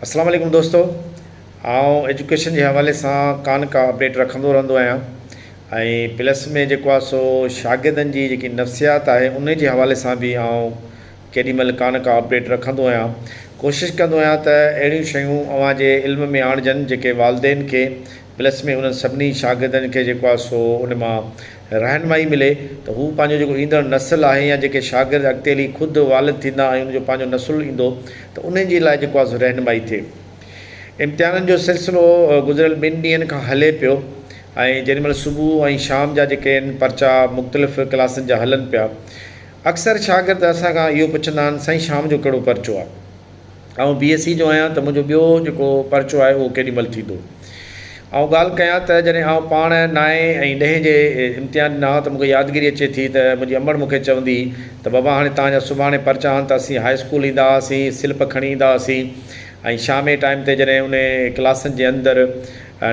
السلام عليڪم دوستو آئون ايجوڪيشن جي حوالي سان ڪا نه ڪا اپڊيٽ رکندو رهندو آهيان ۽ پلس ۾ جيڪو آهي سو شاگردن جي جيڪي نفسيات آهي ان جي حوالي سان به آئون ڪيڏي مهل ڪا نه ڪا اپڊيٽ رکندو آهيان ڪوشش ڪندو آهيان ته اهڙيون شيون اوهان جي علم ۾ آڻجن جيڪي والدين کي پلس ۾ انهن سڀني شاگردن کي جيڪو آهي سو ان مان رهنمائي ملي ته هو پنهنجو جيڪو ايندڙ نسل آهي يا جيڪي شاگرد اڳتي هلي خود والد ٿيندا ۽ ان جو پنهنجو نسل ايندو ته انهن جي لاء جيڪو آهي سو رهنمائي ٿئي. امتحانن جو سلسلو گذريل ٻن ڏينهن کان هلي پيو ۽ جيڏي مهل صبح ۽ شام جا جيڪي آهن پرچا مختلف ڪلاسن جا هلن پيا. اڪثر شاگرد اسان کان اهو پڇندا آهن سائين شام جو ڪهڙو پرچو آهي؟ آئون بي ايس سي جو آهيان ته منهنجو ٻيو جيڪو پرچو آهي اهو ڪيڏي مهل ٿيندو؟ آئون ڳالهه ڪيان ته جڏهن آئون پاڻ نائين ۽ ڏهين جي امتحان ڏنا هئا ته مونکي يادگيري اچي ٿي ته منهنجي امڙ مونکي چوندي ته بابا هاڻي توهان جا سڀاڻي پرچا آهن ته اسين هاء اسڪول ايندا هئاسين سلپ کڻي ايندا هئاسين ۽ شام جي ٽائيم تي جڏهن انهي ڪلاسن جي اندر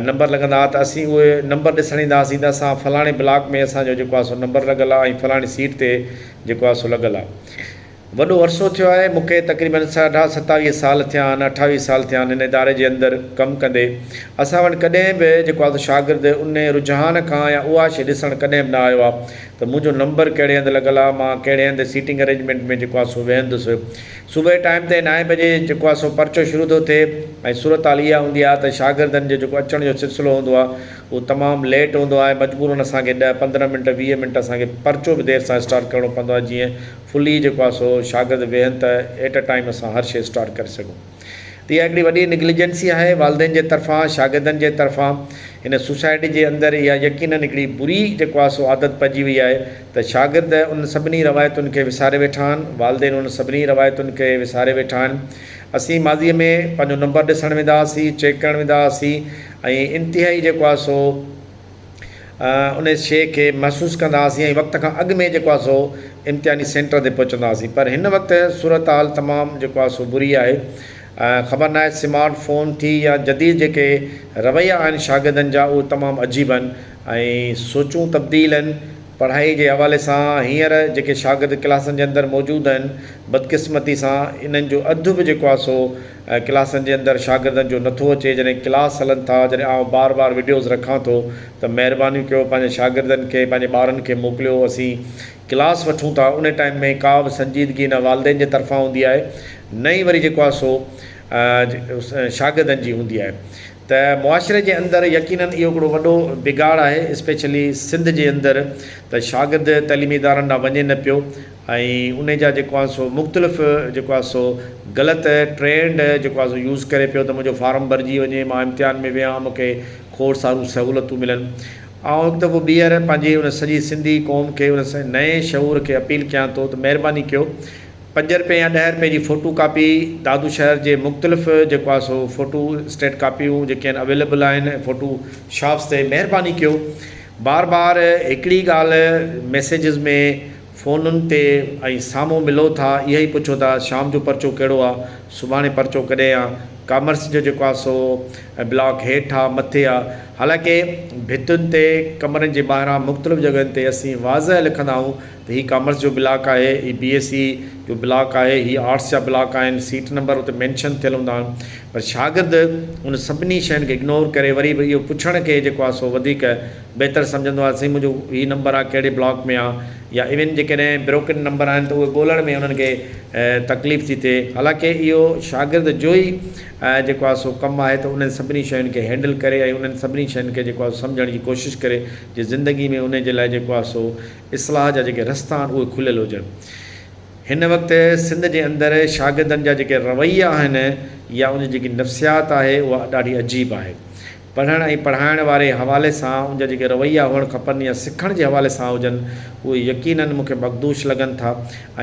نمبر لڳندا هئا ته اسين اهي نمبر ڏسڻ ايندا هئاسين ته اسان فلاڻي بلاڪ ۾ اسان جو جيڪو آهي سو نمبر لڳل آهي ۽ فلاڻي سيٽ تي جيڪو آهي سو لڳل آهي. وڏو عرصو ٿيو آهي مون کي تقريبن ساڍا ستاويهه سال ٿيا آهن اٺاويهه سال ٿيا آهن هن اداري جي اندر ڪم ڪندي اسان وٽ ڪڏهن به جيڪو آهي سو شاگرد ان رجحان کان يا اها شي ڏسڻ ڪڏهن به نه آيو آهي ته منهنجو نمبر ڪهڙي هنڌ لڳل آهي مان ڪهڙي هنڌ سيٽنگ ارينجمينٽ ۾ جيڪو آهي سو ويهندس صبح جي ٽائيم تي نائين بجي جيڪو آهي سو پرچو شروع ٿو ٿئي ۽ صورتحال اها هوندي آهي ته شاگردن جو جيڪو اچڻ جو سلسلو هوندو آهي اهو تمام ليٽ هوندو آهي مجبورن اسان کي ڏهه پندرهن منٽ ويهه منٽ اسان کي پرچو به دير سان اسٽارٽ ڪرڻو پوندو آهي جيئن فلي جيڪو آهي سو شاگرد ويهن ته ايٽ ا ٽائيم اسان هر شي اسٽارٽ ڪري سگهون ته اها هڪڙي وڏي نگليجنسي آهي والدين جي طرفان شاگردن جي طرفان هن سوسائٽي جي اندر اها يقينن هڪڙي بري جيڪو آهي سو عادت پئجي وئي آهي ته شاگرد ان سڀني روايتن کي وساري ويٺا آهن والدين ان سڀني روايتن کي وساري ويٺا آهن اسين ماضي ۾ پنهنجو نمبر ڏسڻ ويندا هئاسين چيڪ ڪرڻ ويندا هئاسين ۽ انتهائي جيڪو آهي سو ان شيء کي محسوس ڪندا هئاسين ۽ وقت کان اڳ ۾ جيڪو آهي سو امتحاني سينٽر تي پهچندا هئاسين پر هن وقت صورتحال تمام جيڪو آهي سو بري آهي خبر ناهي سمارٽ فون ٿي يا جديد جيڪي رويا آهن شاگردن جا اهي تمام عجيب آهن ۽ سوچون تبديل آهن پڙهائي جي حوالي سان هينئر جيڪي شاگرد ڪلاسن جي اندر موجود آهن بدقسمتي سان انهن جو اڌ به جيڪو آهي سو ڪلاسن جي اندر شاگردن جو نٿو اچي جڏهن ڪلاس هلن ٿا جڏهن آئون بار بار وڊيوز رکان ٿو ته مهربانيون ڪيو پنهنجن شاگردن کي پنهنجي ٻارن کي موڪليو اسين ڪلاس وٺون ٿا ان ٽائيم ۾ ڪا به سنجيدگي نه والدين جي طرفان هوندي آهي نه ئي وري جيڪو آهي سو شاگردن جي هوندي آهي ته معاشري جي اندر يقينن اهو هڪڙو وڏو بگاڙ آهي اسپيشلي سنڌ جي اندر ته شاگرد تعليمي ادارن ڏانهن وڃي نه پيو ۽ انهي جا جيڪو آهن سو مختلف جيڪو آهي سو غلط ٽرينڊ جيڪو آهي سو يوز ڪري پيو ته منهنجو فارم ڀرجي وڃي مان امتحان ۾ ويهان مون کي کوڙ ساريون سهولتون ملن آئون هڪ دفعو ٻيهر پنهنجي ان سڄي سنڌي قوم کي ان نئين شعور کي اپيل ڪيان ٿو ته مهرباني ڪيو پنج رپئي يا ڏهه رپئي جي فوٽو ڪاپي دادو شهر جي مختلف جيڪو آهي سو فوٽو اسٽيٽ ڪاپيون جيڪي آهن اويليبل آهن فوٽو شاپس تي مهرباني ڪيو بار بار هڪڙي ڳالهه ميسيجز ۾ فونن تي ۽ سامهون ملو ٿا اهي ئي پڇو ٿا شام جو پرچو ڪهڙو آ سڀاڻي پرچو ڪڏهن آ ڪامرس جو جيڪو آ سو بلاڪ هيٺ آ مٿي آ حالانڪه ڀتين تي ڪمرن جي ٻاهران مختلف جڳهين تي اسين واضح لکندا آهون ته هي ڪامرس جو بلاڪ آهي هي بي ايس سي جو بلاڪ آهي هي آرٽس جا بلاڪ آهن سيٽ نمبر اتي مينشن ٿيل هوندا آهن پر شاگرد ان سڀني شين کي اگنور ڪري وري به اهو پڇڻ کي جيڪو آ سو وڌيڪ بهتر سمجهندو آهيان سائين منهنجو هي نمبر آ ڪهڙي بلاڪ ۾ آ يا ايون جيڪڏهن بروڪن نمبر آهن ته اهي ڳولهڻ ۾ انهن کي تڪليف ٿي ٿئي حالانڪه اهو شاگرد جو ئي جيڪو آ سو ڪم آهي ته انهن سڀني شين کي هينڊل ڪري ۽ انهن سڀني شين کي جيڪو آ سمجهڻ جي ڪوشش ڪري جي زندگي ۾ انهن جي لاء جيڪو آ سو اصلاح جا جيڪي رستا آهن اهي کليل هجن هن وقت سنڌ جي اندر شاگردن جا جيڪي رويا آهن يا ان جي جيڪي نفسيات آهي اها ڏاڍي عجيب آهي. پڙهڻ ۽ پڙهائڻ واري حوالي سان ان جا جيڪي رويا هئڻ کپن يا سکڻ جي حوالي سان هجن اهي يقينن مون کي مخدوش لڳن ٿا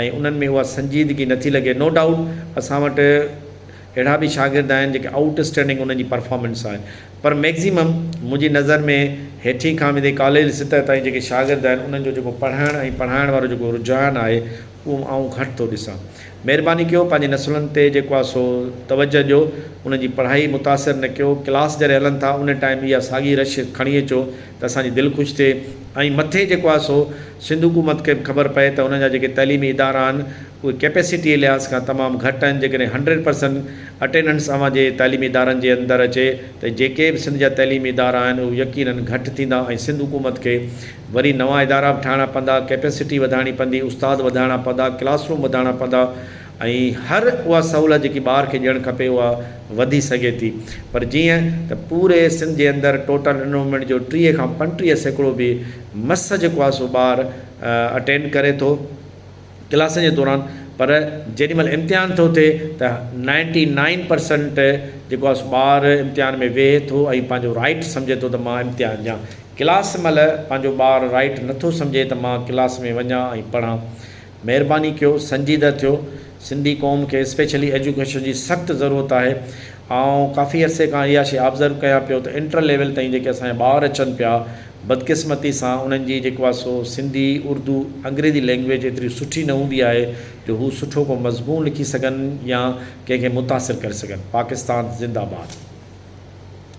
۽ انهن ۾ اها سنجيدگي نه ٿي لڳي نو ڊائوٽ اسان وٽ اهڙا به شاگرد آهن جيڪي آئوٽ اسٽينڊنگ انهن جي پرفارمنس آهي پر ميڪزيمم منهنجي نظر ۾ هيٺين کان ويندي ڪاليج سطح تائين جيڪي شاگرد آهن انهن جو جيڪو پڙهڻ ۽ پڙهائڻ وارو جيڪو رجحان آهي اهو آئون گهٽ ٿو ڏسان مهرباني ڪيو پنهنجي نسلن تي جيڪو آ سو توجه ڏيو انهن جي پڙهائي متاثر نه ڪيو ڪلاس جڏهن هلن ٿا ان ٽائيم اها ساڳي رش کڻي اچو ته اسان جي دل خوش ٿئي ۽ مٿي جيڪو آ سو سنڌ حڪومت کي به خبر پئي ته انهن جا جيڪي تعليمي ادارا آهن اهي ڪيپيسٽيء لحاظ کان تمام گهٽ آهن جيڪڏهن هنڊريڊ پرسنٽ اٽينڊنس اوهان جي تعليمي ادارن جي اندر اچي ته جيڪي به سنڌ جا تعليمي ادارا آهن اهي يقينن گهٽ ٿيندا ۽ سنڌ حڪومت کي وري نوان ادارا به ٺاهڻا پوندا، ڪيپيسٽي وڌائڻي پوندي، استاد وڌائڻا پوندا، ڪلاس روم وڌائڻا پوندا ۽ هر اها سهولت جيڪي ٻار کي ڏيڻ کپي اها وڌي سگهي ٿي پر جيئن ته پوري سنڌ جي اندر ٽوٽل انرومينٽ جو ٽيهه کان پنٽيهه سيڪڙو به مس جيڪو آهي سو ٻار اٽينڊ ڪري ٿو. ڪلاسن جي دوران پر جيڏي مھل امتحان ٿو ٿئي ته نائنٽي نائن پرسنٽ جيڪو آھي سو ٻار امتحان ۾ ويھي ٿو ۽ پنھنجو رائيٽ سمجھي ٿو ته مان امتحان ڏيان ڪلاس مھل پنھنجو ٻار رائيٽ نٿو سمجھي ته مان ڪلاس ۾ وڃان ۽ پڙھان مھرباني ڪيو سنجيده ٿيو سنڌي قوم کي اسپيشلي ايجوڪيشن جي سخت ضرورت آھي آئون ڪافي عرصي کان اھا شيء آبزرو ڪيان پيو ته انٽر ليول تائين جيڪي اسان جا ٻار اچن پيا بدقسمتي سان انهن جي جيڪو آهي سو سنڌي، اردو، انگريزي لينگويج ايتري سٺي نه هوندي آهي جو هو سٺو ڪو مضمون لکي سگهن يا ڪنهن کي متاثر ڪري سگهن. پاڪستان زنده باد.